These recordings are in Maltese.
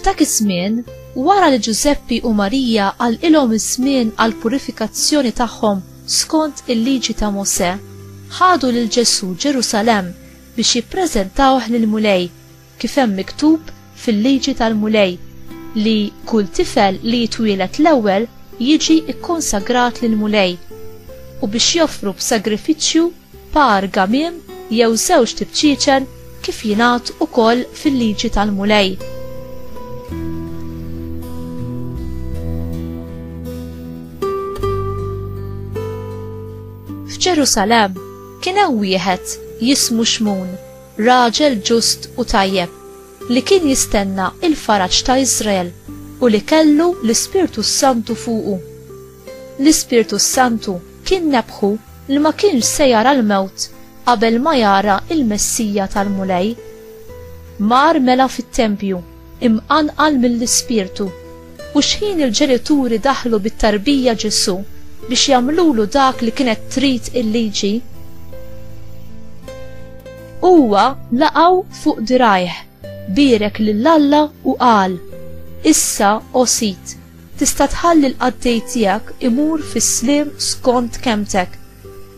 F'dak iż-żmien, wara li Ġużeppi u Marija għalqilhom iż-żmien għall-purifikazzjoni tagħhom skont il-Liġi ta' Mosè, ħadu lil Ġesù Ġerusalemm biex jippreżentawh lill-Mulej, kif hemm miktub fil-Liġi tal-Mulej, li kull tifel li jitwieled l-ewwel jiġi kkonsagrat lill-Mulej, u biex joffru b'sagrifiċċju par gamiem jew żewġt ibċiċen kif jingħad ukoll fil-liġi tal-Mulej. F'Ġerusalem kien hemm wieħed jismu Xmun, raġel ġust u tajjeb, li kien jistenna il-faraġ ta' Iżrael u li kellu l-Ispirtu Santu fuqu. L-Ispirtu s-Santu kien nebbħu li ma kienx se jara l-mewt qabel ma jara l-Messija tal-Mulej. Mar mela fit-tempju, imqanqal mill-Ispirtu, u xħin il-ġenituri daħlu bit-tarbija Ġesù biex jagħmlulu dak li kienet trid il-liġi, huwa laqgħu fuq dirgħajh, bierek lil Alla u qal, Issa, o Sid, Tista' tħalli l-qaddej tiegħek imur fis-sliem skont kelmtek,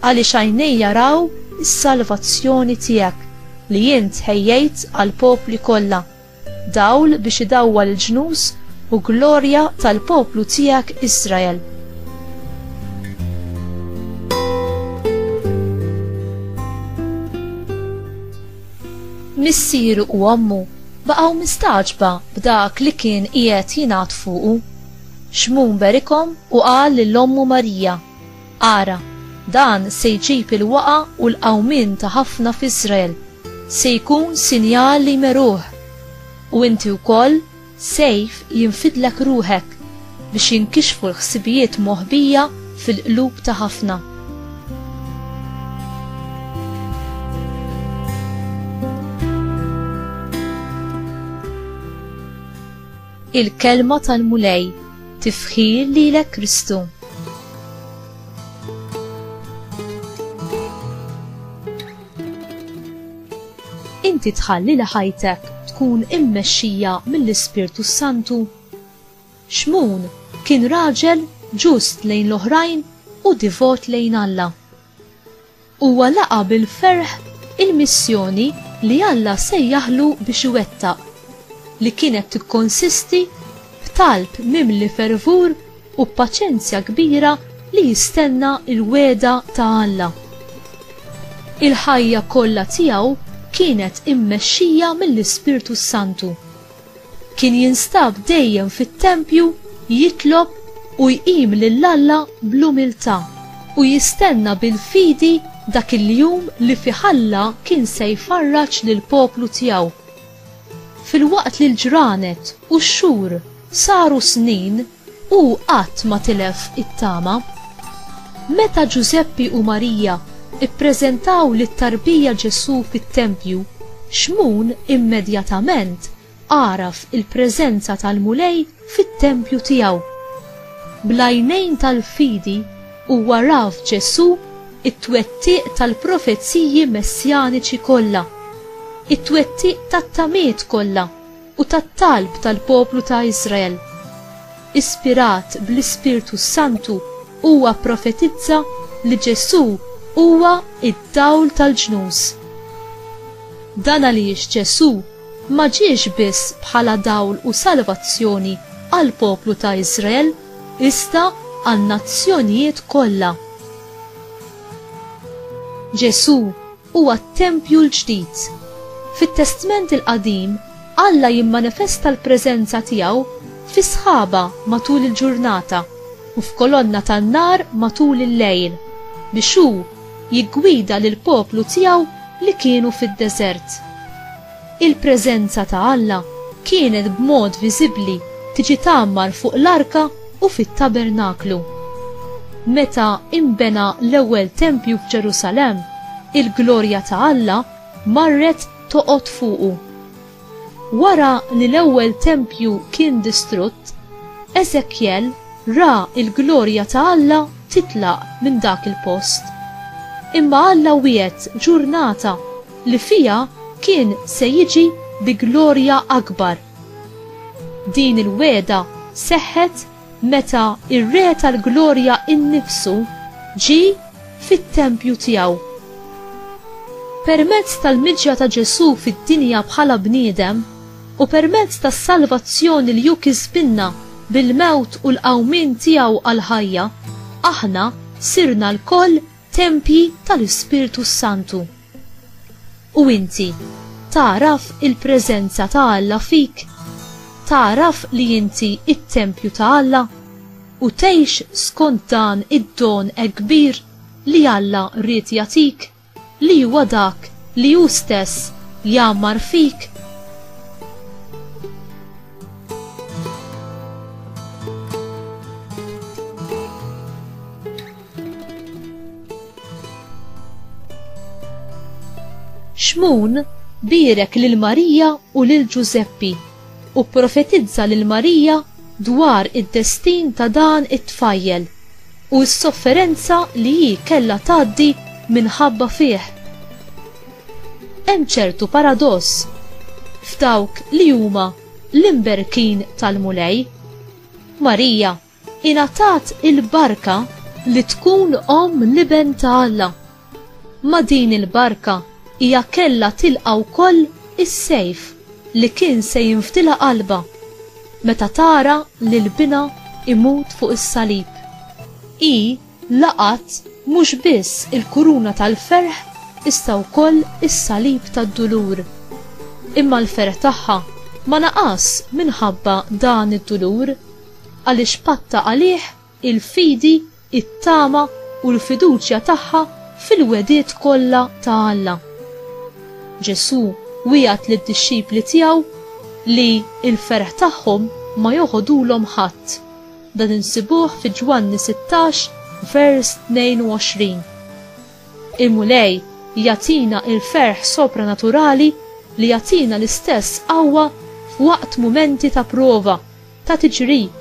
għaliex għajnej jaraw is-salvazzjoni tiegħek li int ħejjejt għall-popli kollha, dawl biex idawwal il-ġnus u glorja tal-poplu tiegħek Israel. Missieru u ommu baqgħu mistagħġba b'dak li kien qiegħed jingħad fuqu. Xmun berikhom u qal lil ommu Marija, Ara, dan se jġib il-waqgħa u l-qawmien ta' ħafna f'Iżrael, se jkun sinjal li jmeruh. U inti wkoll Sejf jinfidlek ruħek biex jinkixfu l-ħsibijiet moħbija fil-qlub ta' ħafna. Il-kelma tal-Mulej tifħir lilek Kristu. Inti tħalli li ħajtek tkun immexxija mill-Ispirtu s-Santu? Xmun kien raġel ġust lejn l-oħrajn u divot lejn Alla. Huwa laqa' bil-ferħ il-missjoni li Alla sejjaħlu biex iwettaq, li kienet tikkonsisti f'talb mimli fervur u b'paċenzja kbira li jistenna l-wegħda ta' Alla. Il-ħajja kollha tiegħu kienet immexxija mill-Ispirtu s-Santu. Kien jinstab dejjem fit-tempju jitlob u jqim lil Alla bl-umiltà u jistenna bil-fidi dak il-jum li fih Alla kien se jfarraġ lill-poplu tiegħu. Filwaqt li l-ġranet u x-xhur saru snin, hu qatt ma tilef it-tama. Meta Ġużeppi u Marija ppreżentaw lit-tarbija Ġesù fit-tempju, Xmun immedjatament għaraf il-preżenza tal-Mulej fit-tempju tiegħu. Bl-għajnejn tal-fidi huwa ra f'Ġesù t-twettiq tal-profeziji messjaniċi kollha, it-twettiq tat-tamiet kollha u tat-talb tal-poplu ta' Iżrael. Ispirat bl-Ispirtu s-Santu huwa pprofetizza li Ġesù huwa d-dawl tal-ġnus. Dan għaliex Ġesù ma ġiex biss bħala dawl u salvazzjoni għall-poplu ta' Iżrael, iżda għan-nazzjonijiet kollha. Ġesù huwa t-tempju l-ġdid. Fit-Testment il-Qadim, Alla jimmanifesta l-preżenza tiegħu fi sħaba matul il-ġurnata u f'kolonna tan-nar matul il-lejl, biex hu jiggwida lill-poplu tiegħu li kienu fid-deżert. Il-preżenza ta' Alla kienet b'mod viżibbli tiġi tgħammar fuq l-arka u fit-tabernaklu. Meta inbena l-ewwel tempju f'Ġerusalemm, il-glorja ta' Alla marret toqgħod fuqu. Wara li l-ewwel tempju kien distrutt, Eżekjel ra l-glorja ta' Alla titlaq minn dak il-post. Imma Alla wiegħed ġurnata li fiha kien se jiġi bi glorja akbar. Din il-wegħda seħħet meta r-Re tal-Glorja nnifsu ġie fit-tempju tiegħu. Permezz tal-miġja ta' Ġesù fid-dinja bħala bniedem u permezz tas-salvazzjoni li hu kisbilna bil-mewt u l-qawmien tiegħu għall-ħajja, aħna sirna lkoll tempji tal-Ispirtu s-Santu. U inti, tagħraf il-preżenza ta' Alla fik? Tagħraf li inti t-tempju ta' Alla? U tgħix skont dan id-don hekk kbir li Alla ried jagħtik, li huwa dak li hu stess jgħammar fik? Xmun bierek lil Marija u lil Ġużeppi u pprofetizza lil Marija dwar id-destin ta' dan it-tfajjel u s-sofferenza li hi kellha tgħaddi minħabba fih. Hemm ċertu paradoss f'dawk li huma l-imberkin tal-Mulej. Marija Ingħatat il-barka li tkun omm l-Iben ta' Alla. Ma' din il-barka hija kellha tilqa' wkoll is-sejf li kien se jinfdilha qalbha meta tara lil binha imut fuq is-salib. Hi laqgħet mhux biss il-kuruna tal-ferħ iżda wkoll is-salib tad-dulur. Imma l-ferħ tagħha ma naqas minħabba dan id-dulur. Għaliex patta għalih il-fidi, it-tama u l-fiduċja tagħha fil-wegħdiet kollha ta' Alla. Ġesù wiegħed lid-dixxipli tiegħu li l-ferħ tagħhom ma joħodulhom ħadd. Dan insibuh fi Ġwanni 16 vers 22. Il-Mulej jagħtina l-ferħ sopranaturali li jagħtina l-istess qawwa f'waqt mumenti ta' prova ta' tiġrib,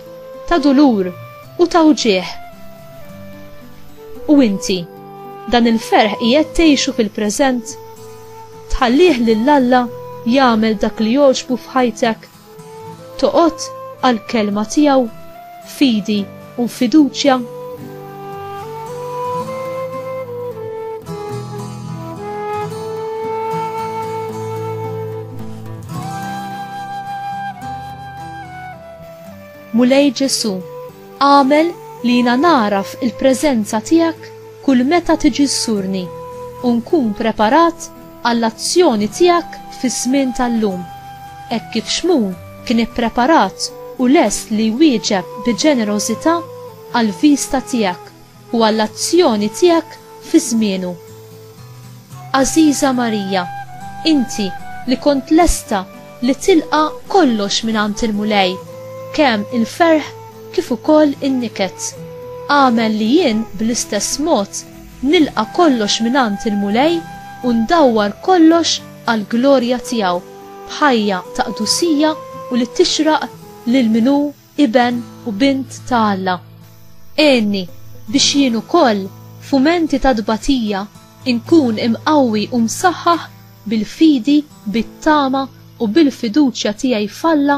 ta' dulur u ta' wġigħ. U inti, dan il-ferħ qiegħed tgħixu fil-preżent? Tħallih lil Alla jagħmel dak li jogħġbu f'ħajtek? Toqgħod għall-kelma tiegħu b'fidi? u fiduċja? Mulej Ġesù, għamel li jiena nagħraf il-preżenza tiegħek kull meta tiġi żżurni u nkun preparat għall-azzjoni tiegħek fiż-żmien tal-lum, hekk kif Xmun kien ippreparat u lest li jwieġeb bi ġenerożità għall-viżta tiegħek u għall-azzjoni tiegħek fi żmienu. Għażiża Marija, inti li kont lesta li tilqa' kollox mingħand il-Mulej, kemm il-ferħ kif ukoll in-niket, agħmel li jien bl-istess mod Nilqa' kollox mingħand il-Mulej u ndawwar kollox għall-glorja tiegħu, b'ħajja ta' qdusija u li tixraq lil min hu iben u bint ta' Alla. Għinni biex jien ukoll, f'mumenti ta' tbatija, inkun imqawwi u msaħħaħ bil-fidi, bit-tama u bil-fiduċja tiegħi f'Alla,